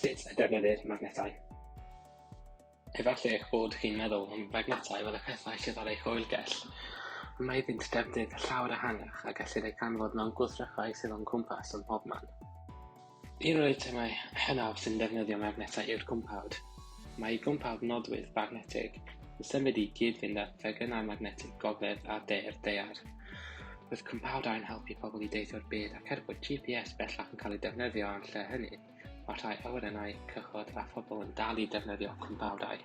Sut y defnyddir magnetau. Efallai eich bod chi'n meddwl am fagnetau fel y pethau sydd ar eich oergell. Ond mae iddynt defnydd llawer ehangach a gellir eu canfod mewn gwrthrychau sydd o'n cwmpas ym mhobman. Un o'r eitemau hynaf sy'n defnyddio magnetau yw'r gwmpawd. Mae gwmpawd nodwydd bagnetig yn symud i gyd-fynd â phegynau magnetig gogledd a de'r daear. Roedd cwmpawdau'n helpu pobl i deithio'r byd ac er bod GPS bellach yn cael ei defnyddio yn lle hynny, mae rhai awyrennau, cychod a phobl yn dal i defnyddio cwmpawdau.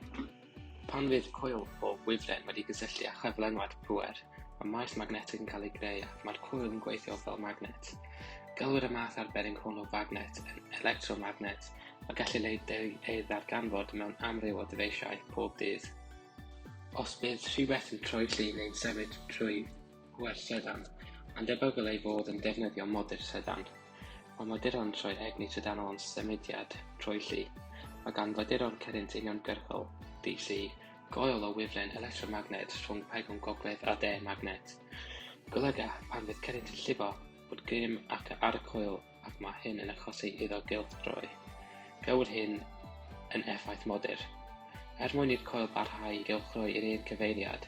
Pan fydd coil o wifren wedi gysylltu â chyflenwad pŵer, mae maes magnetig yn cael ei greu ac mae'r coil yn gweithio fel magnet. Gelwir y math arbennig hwn o fagnet yn electromagnet a gellir ei ddarganfod mewn amryw o ddyfeisiau pob dydd. Os bydd rhywbeth yn troelli neu'n symud trwy wers trydan, mae'n debygol ei fod yn defnyddio modur trydan. Mae moduron troi egni trydanol yn symudiad troelli. Mae gan faduron cyrynt uniongyrchol, DC, goel o wifren electromagned rhwng pegwn gogledd a de magnet. Golyga, pan fydd cyrynt yn llifo, bod grym ac ar y coel ac mae hyn yn achosi iddo gylchdroi. Gawyd hyn yn effaith modur. Er mwyn i'r coel barhau i gylchdroi i'r un cyfeiriad,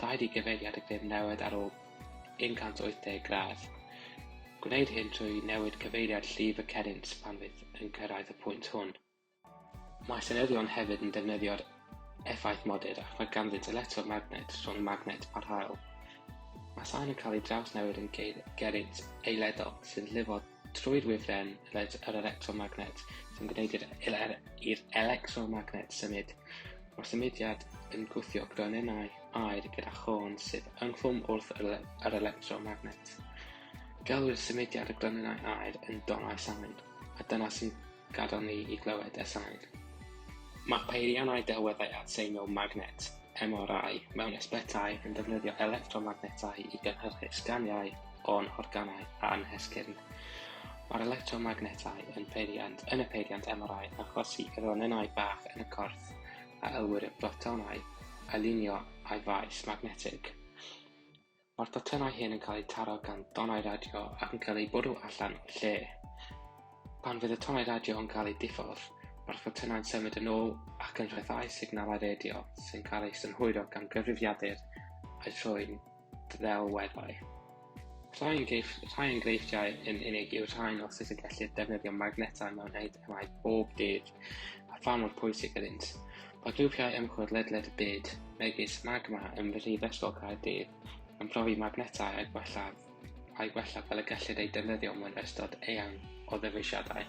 rhaid i gyfeiriad y grym newid ar ôl 180 gradd. Gwneud hyn trwy newid cyfeiriad llif y cerrynt pan fydd yn cyrraedd y pwynt hwn. Mae senyddion hefyd yn defnyddio'r effaith modur ac mae ganddynt electromagnet rhwng magnet a'r haul. Mae sain yn cael ei drawsnewid yn geirgeriant eiledol sy'n llifo trwy'r wifren yr electromagnet sy'n gwneud i'r er-, er-, electromagnet symud. Mae'r symudiad yn gwthio gronynnau aer gyda chôn sydd ynghlwm wrth yr electromagnet. Gelwir symudiad y gronynnau aer yn donau sain, a dyna sy'n Gadel ni i glywed y sain. Mae peiriannau delweddau adseiniol magnet, MRI, mewn ysbytai yn defnyddio electromagnetau i gynhyrchu sganiau o'n organau a'n hesgyrn. Mae'r electromagnetau yn peiriant yn y peiriant MRI yn achosi i ronynnau bach yn y corff a elwir yn brotonau alinio â'i faes magnetig. Mae'r docynnau hyn yn cael eu taro gan donnau radio ac yn cael eu bwrw allan o'r lle. Pan fydd y tonnau radio yn cael eu diffodd, mae'r ffotynau'n symud yn ôl ac yn rhyddhau signalau radio sy'n cael eu synhwyro gan gyfrifiadur a'i thrwy'n ddelweddau. Rhai enghreifftiau yn unig yw'r rhain o sut y gellir defnyddio magnetau mewn Mae pob dydd, a pha mor pwysig ydynt. Mae grwpiau ymchwil ledled y byd, megis Magma ym Mhrifysgol Caerdydd, yn profi magnetau a'i gwella, a'i gwella fel y gellid eu defnyddio mewn ystod eang o ddyfeisiadau.